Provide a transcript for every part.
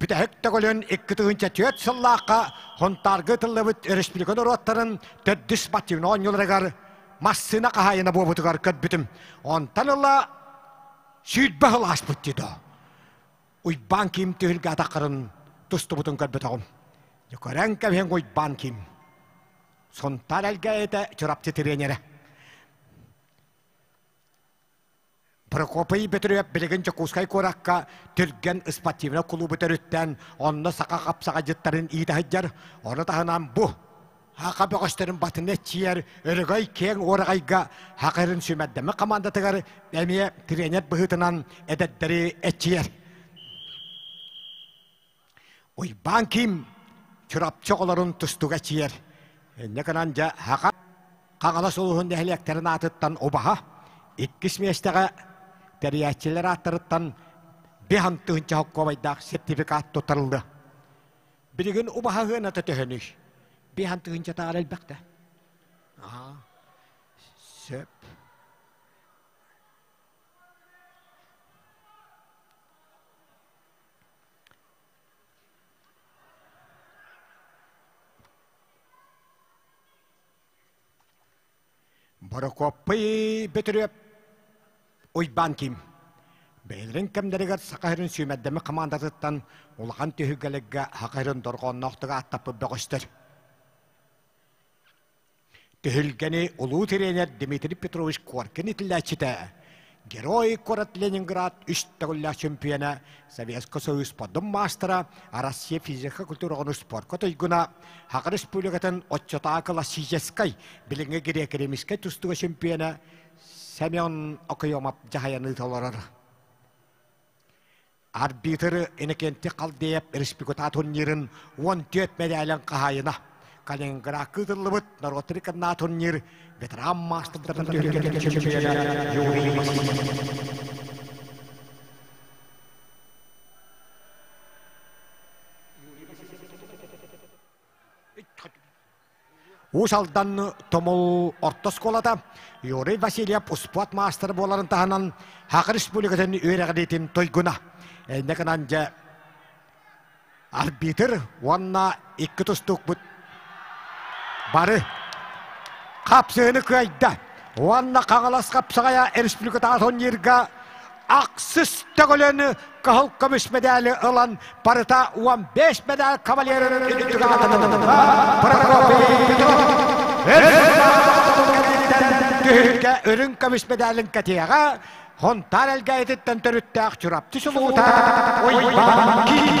Бүтэһик төгүлүн икки тыһыынча түөрт сыллаахха Хонтаарга ытыллыбыт өрөспүүбүлүкэ норуоттарын төрдүс спортивнай оонньууларыгар массыына хаһаайына буолбутугар көрбүтүм. Онтон ыла сүүрбэ сыл ааспыт дии Уйбаан Ким түһүлгэ атаххарын тустубутун көрбөтөҕүм. Көрөн кэбиһэн Уйбаан Ким. Сунтаар элгээйитэ Чурапчы тренерэ. Прокопий Петрович билигин Дьокуускай куоракка түргэн спортивнай кулуубу төрүттээн, онно саха хапсаҕайдьыттарын иитэ сылдьар. Ону таһынан бу Хаха бөҕөстөрүн батыны эччийэр өрөгөй киэҥ уораҕайга Хахырын сүүмэрдэмэ хамаандатыгар эмиэ тренер быһыытынан эдэрдэри эччийэр. Уйбаан Ким Чурапчы оҕолорун тустуга ичийэр. Инньэ гынан дьэ Хаҕа Хаҕалас улууһун нэһилиэктэрин аатыттан убаһа иккис миэстэҕэ тэрийээччилэр ааттарыттан биһан тыһыынча холкуобайдаах сертификат туттарыллыа. Билигин убаһа ыаната төһөнүй? Биһан тыһыынчатааҕар элбэхтэ. Аа, сөп. Борокуоппай Бөтүрүөп Уйбаан Ким бэйэлэрин кэмнэригэр саха сирин сүүмэрдэмэ хамаандатыттан улахан түһүлгэлэргэ саха сирин дорҕоонноохтук ааттаппыт бөҕөстөр Түһүлгэни улуу тренер Дмитрий Петрович Коркин итиллээччитэ, Герой куорат Ленинград үс төгүллээх чөмпүйэнэ, Советскай Союз поддум маастара, Россия физика культураҕын спорка туйгуна, Хакыр Республикатын отчетаа классическай билиҥҥи греко-римскэй тустуга чөмпүйэнэ Семен Окоемов дьаһайан ыыталарар. Арбитры Иннокентий Халдеев республиката турнирын уон түөрт мэдээлин хаһаайына. Калининград кыытыллыбыт норуот рекордна турнир ветеран маастардарын чемпиона Юрий Уус Алдан Тумул орто оскуолата Юрий Васильев успуот маастара буоларын таһынан Хақ Республикатын үөрэҕириитин туйгуна. Иннэ гынан дьэ арбитр уонна икки тустукпут бары хапсыыны кыайда уонна Хаҥалас Хапсаҕайа республикатааҕы турнирга ахсыс төгүлөнү кыһыл көмүс медали ылан барыта уон бэс медаль кавалерын түһүлгэ үрүҥ көмүс медалин кэтиэҕэ хонтаан элгээйититтэн төрүттээх Чурапчы сулуута Уйбаан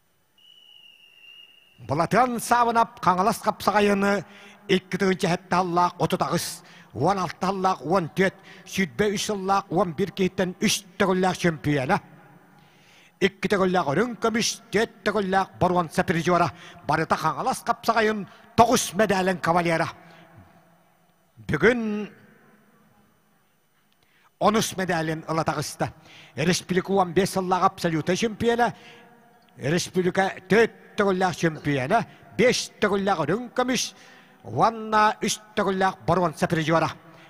Былатыан Саавынап Хаҥалас хапсаҕайыны икки тыһыынча сэттэ сыллаах отут аҕыс уон алта сыллаах уон түөрт сүүрбэ үс сыллаах уон биир киһиттэн үс төгүллээх чөмпүйүөнэ икки төгүллээх үрүҥ көмүс түөрт төгүллээх боруонса призера барыта Хаҥалас хапсаҕайын тоҕус мэдээлин кавалера бүгүн Он үс медалин ыла таҕыста. Республика уон биэс сыллаах абсолюта чемпиона, республика төрүт төгүллээх чемпиона, беш төгүллээх үрүҥ көмүс уонна үс төгүллээх боруонса призера.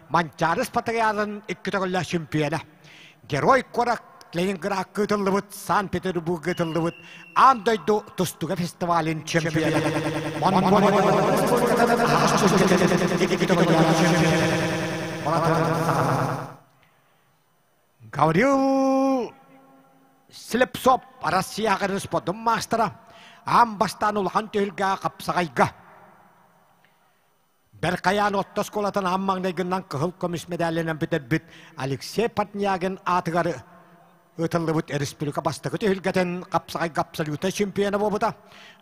Манчаары Спартакиадатын икки төгүллээх чемпиона. Герой куорат Ленинград кытыллыбыт, Санкт-Петербург кытыллыбыт Аан дойду тустуга фестивалин чемпиона. Гаврил Слепцов Россияға спортун маастара. Аан бастан улахан түһүргә қапсағайға. Бэр хайаан отто оскуолатын ам маҥнайгынан кыһыл көмүс медалынан бүтэрбит Алексей Портнягин аатыгар ыытыллыбыт республика бастакы түһүлгэтин хапсаҕайга абсолютнай чемпиона буолбута.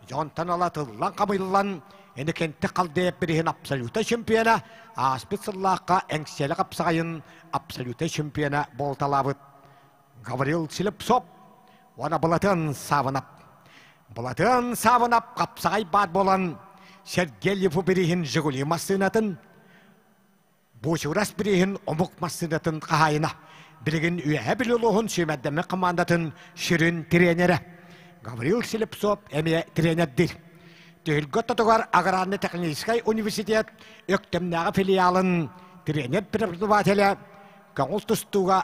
Дьонтон ала тыллан-хамыйллан, Эникенте Халдеев бириһин абсолютнай чемпиона, ааспыт сыллаахха Эҥсиэлэ хапсаҕайын абсолютнай чемпиона буолталаабыт. Говорил Селепсоп уонна Былатын Савынап. Былатын Савынап хапсаҕай баат буолан Сергеев бириһин Жигули массыынатын Бучурас бириһин омук массыынатын хаһайына. Билигин үөһэ билулуһун сүймэрдэммэ командатын ширин тренерэ. Гаврил Селепсоп эмиэ тренердир. Түһүлгө тотугар аграрный технический университет Өктөмнөҕө филиалын тренер преподавателэ көҥүл тустууга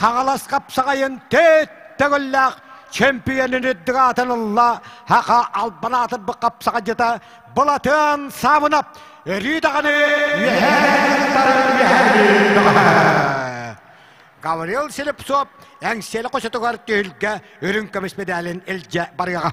Хаҥалас хапсаҕайын төрүт төгүллээх чөмпүйүөнүн үрдүк аатын ылла Хаха албан аатырбыт хапсаҕайдьыта Былатыан Саабынап өрүү даҕаны Гавриил Слепцов эҥсиэли хочотугар түһүлгэ үрүҥ көмүс медалин илдьэ барыаҕа.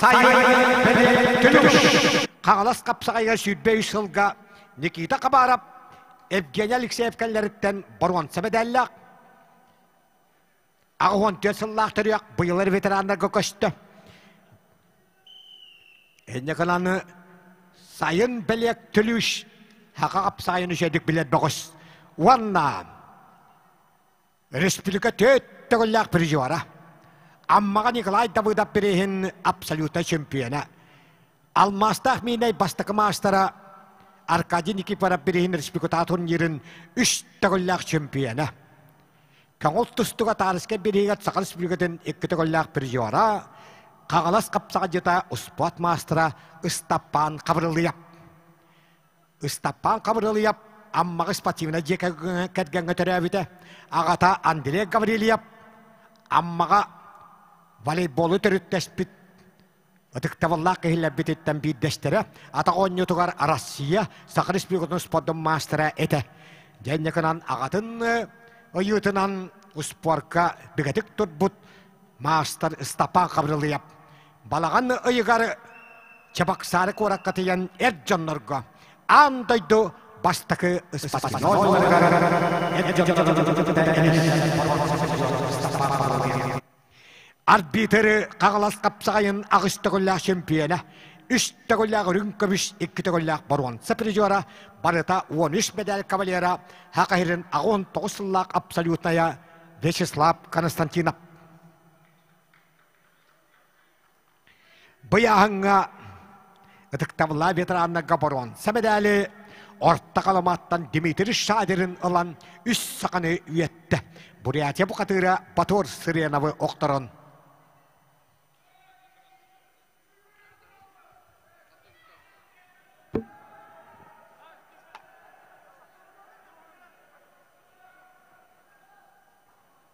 Сайын бэлиэ күнүш Хаҥалас хапсаҕайга сүүрбэ үс сылга Никита Хабаров, Евгений Алексеев кэллэриттэн боруонса медаллаах, аҕа уон түөрт сыллаах төрүөх быйылар ветераннарга көстө. Инникананы сайын бэлиэк түлүүш хаха хапсаайын үсөдүк билэр бөҕүс уонна Республика төрт төгүллээх призера. Аммаҕа Николай Давыдов приһин абсолюта чемпиона. Алмаастаах миинэй бастакы маастара Аркадий Никифоров приһин республика турнирын үс төгүллээх чемпиона. Көҥүл тустуга Таарыска бириигат Саха Республикатын икки төгүллээх призера, Хагалас Капсаҕадьыта успуот маастара Ыстаппаан Хабырылыйап. Ыстаппаан Хабырылыйап Аммаҕы спортивнай дьиэ кэргэҥҥэ төрөөбүтэ. Аҕата Андрей Гаврильев Аммаҕа волейболу төрүттэспит ытыктабыллаах киһилэрбититтэн биирдэстэрэ, атах оонньуутугар Россия, Саха Республикатын спордун маастара этэ. Дьэнньыкынан аҕатын ойуутунан успуорка бигэтик турбут маастар Ыстапаан Хабырылыйап Балаҕан ыйыгар Чабаксары куоракка тиийэн эр дьоннорго аан дойду бастакы арбитры Хаҥалас хапсаҕайын аҕыс төгүллээх чөмпүйэнэ, үс төгүллээх үрүҥ көмүс, икки төгүллээх боруонса призера, барыта уон үс медаль кавалера, ХАКСРын аҕыс уон тоҕус сыллаах абсолютная Вячеслав Константинов. Быйаһыҥҥа ытыктабыллаах ветераннарга боруон сэмэдээли Орто Халыматтан Дмитрий Шадерин ылан үс саханы үөттэ. Бурятия бухатыыра Батор Сыреновы охторон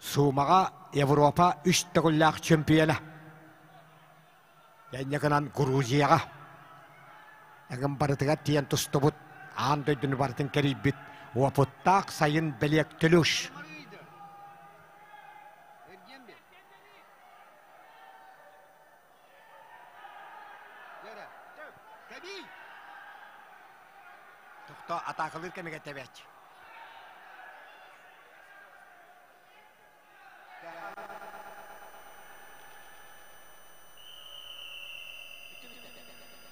Суумаҕа Европа үс төгүллээх чөмпүйэнэ. Инньэ гынан Грузияҕа. Эҥин барытыгар тиийэн тустубут аан дойдуну барытын кэрийбит уопуттаах сайын бэлиэк Төлүш. Тохто атаакалыыр кэмигэр тэбээч.